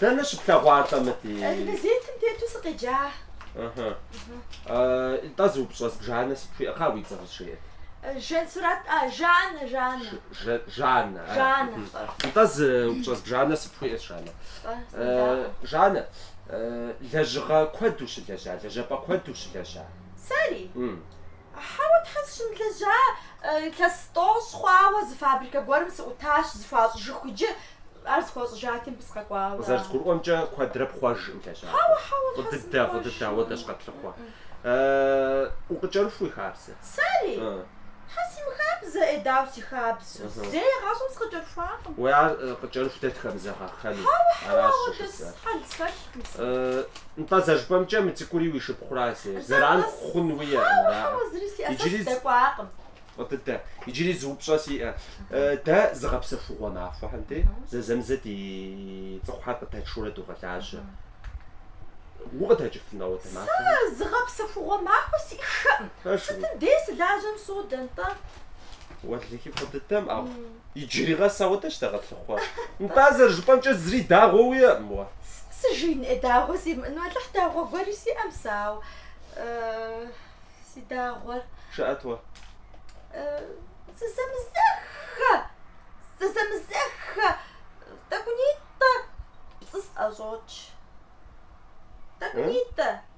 Дэнэ щыплъэгъуа атӏэ мы ди? Газетым тету сыкъеджа. Итӏэ зы упщӏэ зыбжанэ сыпхуиӏэ. Кхъа уи цӏэр къызжеӏэт. Жансурат а Жанна Жанна. Жанна. Жанна. Итӏэ зы упщӏэ зыбжанэ сыпхуиӏэ Жанна. Жанна лэжьыгъэ куэд ущылэжьа, лэжьапӏэ куэд ущылэжьа? Сэри? Хьэуэ, Тхьэ, сыщымылэжьа, илъэс тӏощӏ хъуауэ зы фабрикэ гуэрым сыӏутащ, зыхуащӏыжыху иджы, ар зыхуащӏыжати, мыбы сыкъэкӏуауэ. Къызэрызгурыӏуэмкӏэ, куэдрэ пхъуэжкъым лэжьапӏэр. Хьэуэ, Тхьэ, сымыхъуэж. Фӏы дыдэ, фӏы дыдэ, ауэдэщ къэтлъыхъуэр. Укъыкӏэрыху уи хабзэ. Сэри? Тхьэ, симыхабзэ, ӏей, дауэ си хабзэу, зэи гъащӏэм сыкъыкӏэрыхуакъым. Уэ, ар къыкӏэрыху дэ тхэмызэгъэххэну. Хьэуэ, хьэуэ, ауэдэ хьэл схэлъ. Нтӏэ зэжыпӏэмкӏэ мы цӏыкӏури уи шыпхъура зы зэран хъун уиӏэ мыраӏэ. Иджыри дэкӏуакъым. Фӏы дыдэ, иджыри зы упщӏэ сиӏэ. Дэ зыгъэпсэхугъуэ махуэхэм деи зэзэмызэ ди цӏыхухьэр къыдэтшурэ догъэлажьэ. Укъыдэкӏыфынэу дэ махуэ? Сэ зыгъэпсэхугъуэ махуэ сиӏэхэкъым. Сытым дей сылажьэм содэ, Нтӏэ. Уэлэхьи, фӏы дыдэм, ау. Иджыри къэс ауэдэщ дэ къэтлъыхъуэр. Нтӏэ зэрыжыпӏэмкӏэ зыри дагъуэ уиӏэкъым уэ. Сыжин ӏей дагъуэ симыӏэну, Алыхь дагъуэ гуэри сиӏэм сэ, ау си дагъуэр. Жыӏэт уэ. Зызэмызэххэ! Зызэмызэххэ! Тӏэкӏунитӏэ пцӏы сӏэщӏокӏ. Тӏэкӏунитӏэ!